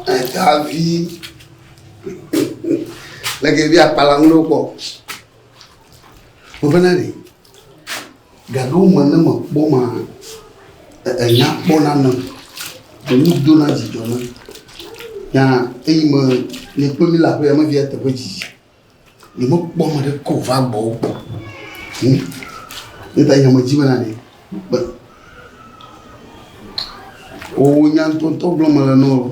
Davi le ke via kpala ŋu ɖo kpɔ. Mo fẹ́ náà nìyí. Gaɖo me ne mekpɔ ma, enya kpɔ na me, enu do na dzidzɔ na. Ya eyi me ne kpɔ mi la ƒe ame via teƒe dzidzi. Ne mekpɔ me ɖe ko va gbɔ kpɔ. Hmm. Ne ta nya me dzi me na ne. Be. O nya ntɔntɔ gblɔ me le nɔ.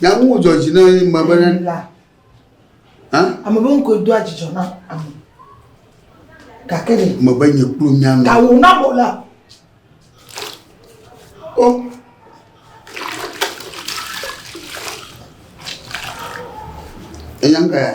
Nyaŋu dzɔ dzi na ye ma bene. Ame be ŋkɔe doa dzidzɔ na ame. Gake ɖe. Me be nye kplu nya me. Gawu na mo la. O. Eya ŋka ya.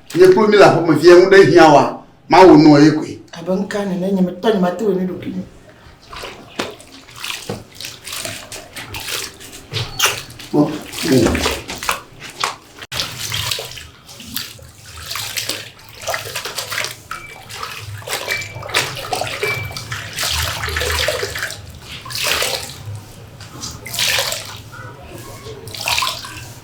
Nye kplu mi le aƒe me fia ŋu ɖe hiã wa. Mawu nɔ ye koe. Abe ŋka nene nye me tɔ nye mate wɔ ne ɖoki me. Oh. Oh.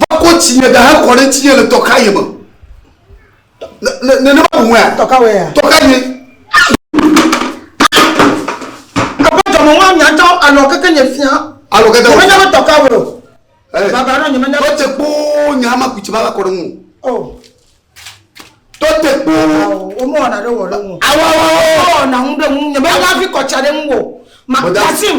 va kɔ tsi nye da hekɔ ɖe ŋutinye le tɔkaye me nenema wòwɔe tɔkawe tɔkaye aƒetɔ mo wa nyatɔ alɔ keke nye fia alɔ keke nye fia tɔkawe o baba ɖɔ nye menya tɔte kpo nye ama kutsi va va kɔ ɖe ŋu o oh. tɔte kpo womɔ ɔna ɖe wɔ ɖe ŋu awawawo ɔna ŋu ɖe ŋu nye menya fi kɔtsa ɖe ŋu o makasim